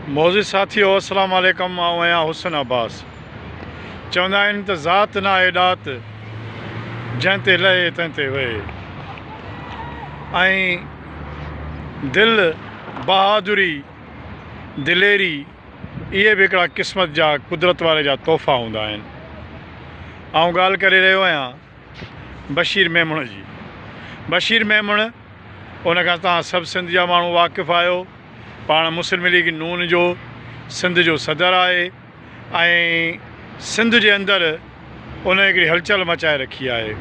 معزز ساٿيو السلام عليڪم آئون آهيان حسن عباس چوندا آهن ته ذات نه آهي ڏات جنهن تي لهي تنهن تي وهي ۽ دل بهادري دليري اهي به هڪڙا قسمت جا قدرت واري جا تحفا هوندا آهن آئون ڳالهه ڪري رهيو آهيان بشير ميمڻ جي بشير ميمڻ ان کان تان سڀ سنڌ جا ماڻهو واقف آهيو پاڻ مسلم ليگ نون جو سنڌ جو صدر آهي ۽ سنڌ جي اندر ان هڪڙي هلچل مچائي رکي آهي.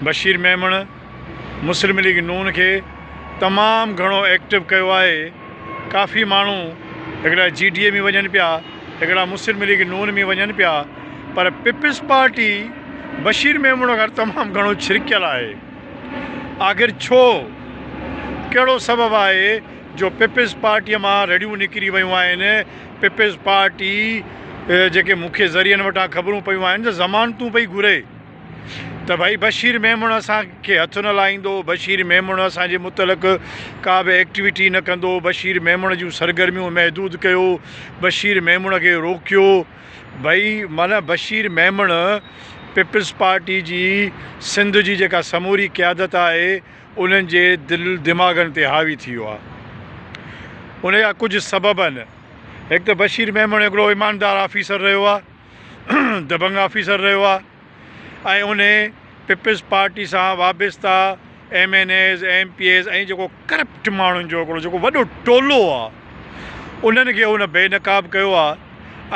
بشير ميمڻ مسلم ليگ نون کي تمام گهڻو ايڪٽو ڪيو آهي. ڪافي ماڻهو هڪڙا جي ڊي اي ۾ وڃن پيا هڪڙا مسلم ليگ نون ۾ وڃن پيا پر پيپلز پارٽي بشير ميمڻ کان تمام گهڻو ڇرڪيل آهي. آخر ڇو؟ ڪهڙو سبب آهي جو پيپلز پارٽيء مان رڙيون نڪري ويون آهن؟ پيپلز پارٽي جيڪي مکيه ذريعن وٽان خبرون پيون آهن ته ضمانتون پئي گهري ته ڀئي بشير ميمڻ اسان کي هٿ نه لائيندو، بشير ميمڻ اسان جي متعلق ڪا به ايڪٽويٽي نه ڪندو، بشير ميمڻ جون سرگرميون محدود ڪيو، بشير ميمڻ کي روڪيو. ڀئي معنيٰ بشير ميمڻ پيپلز پارٽي جي سنڌ جي جيڪا سموري قيادت آهي انهن جي دل دماغن تي حاوي ٿي ويو آهي ان جا ڪجهه سبب آهن هڪ ته بشير ميمڻ هڪڙو ايماندار آفيسر رهيو آهي دبنگ آفيسر رهيو آهي ۽ انهي پيپلز پارٽي سان وابسته M N As M P As ۽ جيڪو ڪرپٽ ماڻهن جو هڪڙو جيڪو وڏو ٽولو آ انهن کي هن بي نقاب ڪيو آ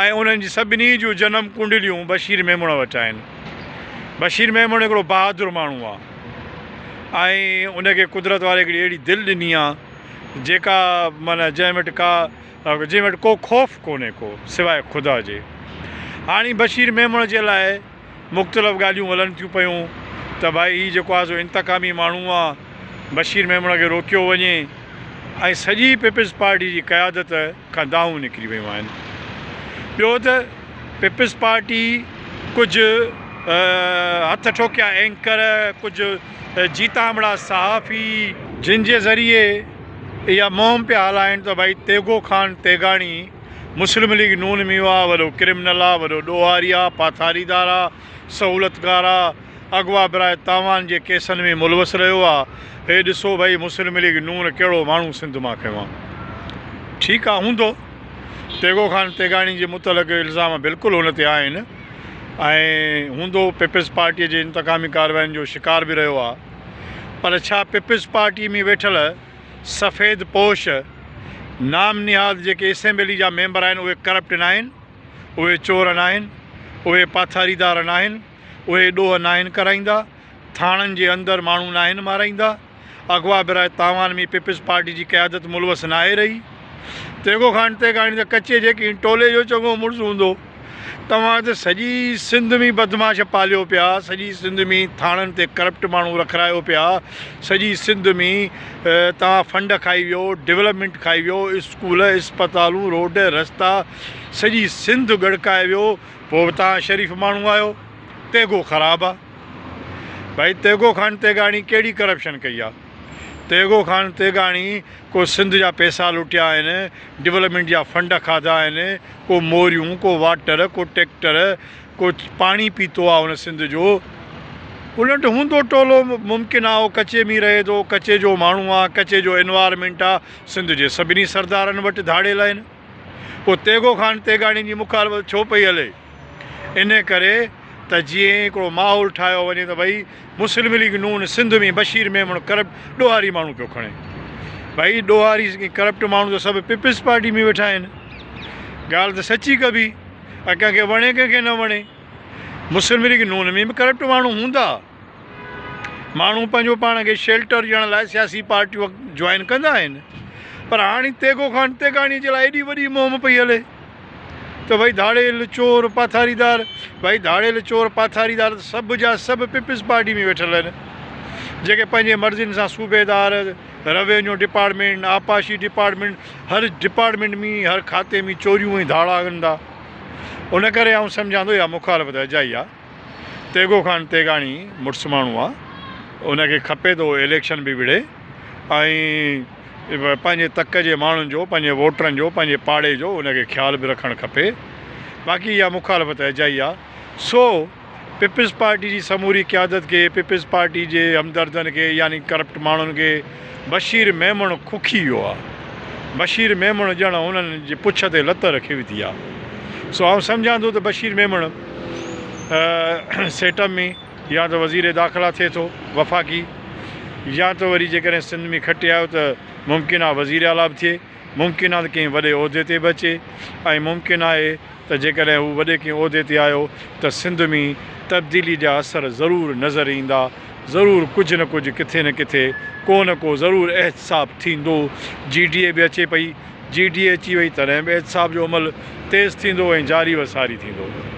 ۽ انهن جي سڀني جون جنم ڪنڊليون بشير ميمڻ وٽ آهن بشير ميمڻ هڪڙو بهادر ماڻهو آ ۽ انکي قدرت واري هڪڙي اهڙي دل ڏني آ جيڪا معنيٰ جنهن وٽ ڪا جنهن وٽ ڪو خوف ڪونهي ڪو سواء خدا جي. هاڻي بشير ميمڻ جي لاء مختلف ڳالهيون هلن ٿيون پيون ته ڀائي هي جيڪو آهي سو انتقامي ماڻهو آ بشير ميمڻ کي روڪيو وڃي ۽ سڄي پيپلز پارٽي جي قيادت کان دانهون نڪري ويون آهن ٻيو ته پيپلز پارٽي ڪجهه هٿ ٺوڪيا اينڪر ڪجهه جيتامڙا صحافي جن جي ذريعي اها مهم پيا هلائين ته ڀائي تيغو خان تيغاڻي، مسلم ليگ نون ميون آ، وڏو ڪرمنل آ، وڏو ڏوهاري آ، پاٿاريدار آ، سهولتڪار آ، اغوا براء تاوان جي ڪيسن ۾ ملوث رهيو آ، هي ڏسو ڀائي مسلم ليگ نون ڪهڙو ماڻهو سنڌ مان کنيو آ. ٺيڪ آ هوندو تيغو خان تيغاڻي جي متعلق الزام بلڪل هن تي آهن ۽ هوندو پيپلز پارٽيء جي انتقامي ڪاررواين جو شڪار به رهيو آ. پر ڇا پيپلز پارٽيء ۾ ويٺل سفيد پوش نام نهاد جيڪي اسيمبلي جا ميمبر آهن اهي ڪرپٽ ناهن؟ اهي چور ناهن؟ اهي پاٿاريدار ناهن؟ اهي ڏوهه ناهن ڪرائيندا؟ ٿاڻن جي اندر ماڻهو ناهن مارائيندا؟ اغوا براء تاوان ۾ پيپلز پارٽي جي قيادت ملوث ناهي رهي؟ تيغو خان تيغاڻي ته ڪچي جيڪين ٽولي جو چڱو مڙس هوندو. توهان ته سڄي سنڌ ۾ بدمعاش پاليو پيا، سڄي سنڌ ۾ ٿاڻن تي ڪرپٽ ماڻهو رکرايو پيا، سڄي سنڌ ۾ توهان فنڊ کائي ويو، ڊولپمينٽ کائي ويو، اسڪول، اسپتالون، روڊ، رستا سڄي سنڌ ڳڙڪائي ويو، پوء به توهان شريف ماڻهو آهيو. تيغو خراب آ. ڀائي تيغو خان تيغاڻي ڪهڙي ڪرپشن ڪئي آ. تيغو خان تيغاڻي، ڪو سنڌ جا پيسا لٽيا آهن، ڊولپمينٽ جا فنڊ کاڌا آهن، ڪو موريون، ڪو واٽر، ڪو ٽيڪٽر، ڪو پاڻي پيتو آ هن سنڌ جو. الٽ هوندو ٽولو ممڪن آ او ڪچي ۾ رهي ٿو، ڪچي جو ماڻهو آ، ڪچي جو انوارمينٽ آ، سنڌ جي سڀني سردارن وٽ ڌاڙيل آهن. پوء تيغو خان تيغاڻي جي مخالفت ڇو پئي هلي؟ ان ڪري ته جيئن هڪڙو ماحول ٺاهيو وڃي ته ڀئي مسلم ليگ نون سنڌ ۾ بشير ميمڻ ڪرپٽ ڏوهاري ماڻهو پيو کڻي. ڀئي ڏوهاري ۽ ڪرپٽ ماڻهو ته سڀ پيپلز پارٽي ۾ ويٺا آهن. ڳالهه ته سچي ڪبي ۽ ڪنهن کي وڻي ڪنهن کي نه وڻي. مسلم ليگ نون ۾ به ڪرپٽ ماڻهو هوندا. ماڻهو پنهنجو پاڻ کي شيلٽر ڏيڻ لاء سياسي پارٽيون جوائن ڪندا آهن پر هاڻي تيغو خان تيغاڻي جي لاء ايڏي وڏي مهم پئي هلي ته ڀئي ڌاڙيل چور پاٿاريدار ڀئي ڌاڙيل چور پاٿاريدار ته سڀ جا سڀ پيپلز پارٽي ۾ ويٺل آهن جيڪي پنهنجي مرضين سان صوبيدار روينيو ڊپارٽمينٽ آبپاشي ڊپارٽمينٽ هر ڊپارٽمينٽ ۾ هر کاتي ۾ چوريون ۽ ڌاڙا ڪندا ان ڪري آئون سمجهان ٿو اها مخالفت اجائي آهي تيغو خان تيغاڻي مڙس ماڻهو آ ان کي کپي ته هو اليڪشن به وڙهي ۽ پنهنجي تڪ جي ماڻهن جو پنهنجي ووٽرن جو پنهنجي پاڙي جو ان کي خيال به رکڻ کپي باقي اها مخالفت اجائي آ سو پيپلز پارٽي جي سموري قيادت کي پيپلز پارٽي جي همدردن کي يعني ڪرپٽ ماڻهن کي بشير ميمڻ کوکي ويو آ. بشير ميمڻ ڄڻ هنن جي پڇ تي لت رکي وڌي آ. سو آئون سمجهان ٿو ته بشير ميمڻ سيٽم ۾ يا ته وزير داخلا ٿئي ٿو وفاقي يا ته وري جيڪڏهن سنڌ ۾ کٽي آيو ته ممڪن آ وزير اعليٰ به ٿئي، ممڪن آ ته ڪنهن وڏي عهدي تي به اچي ۽ ممڪن آهي ته جيڪڏهن هو وڏي ڪنهن عهدي تي آيو ته سنڌ ۾ تبديلي جا اثر ضرور نظر ايندا، ضرور ڪجهه نه ڪجهه ڪٿي نه ڪٿي ڪو نه ڪو ضرور احتساب ٿيندو، جي ڊي اي به اچي پئي، جي ڊي اي اچي وئي تڏهن به احتساب جو عمل تيز ٿيندو ۽ جاري و ساري ٿيندو.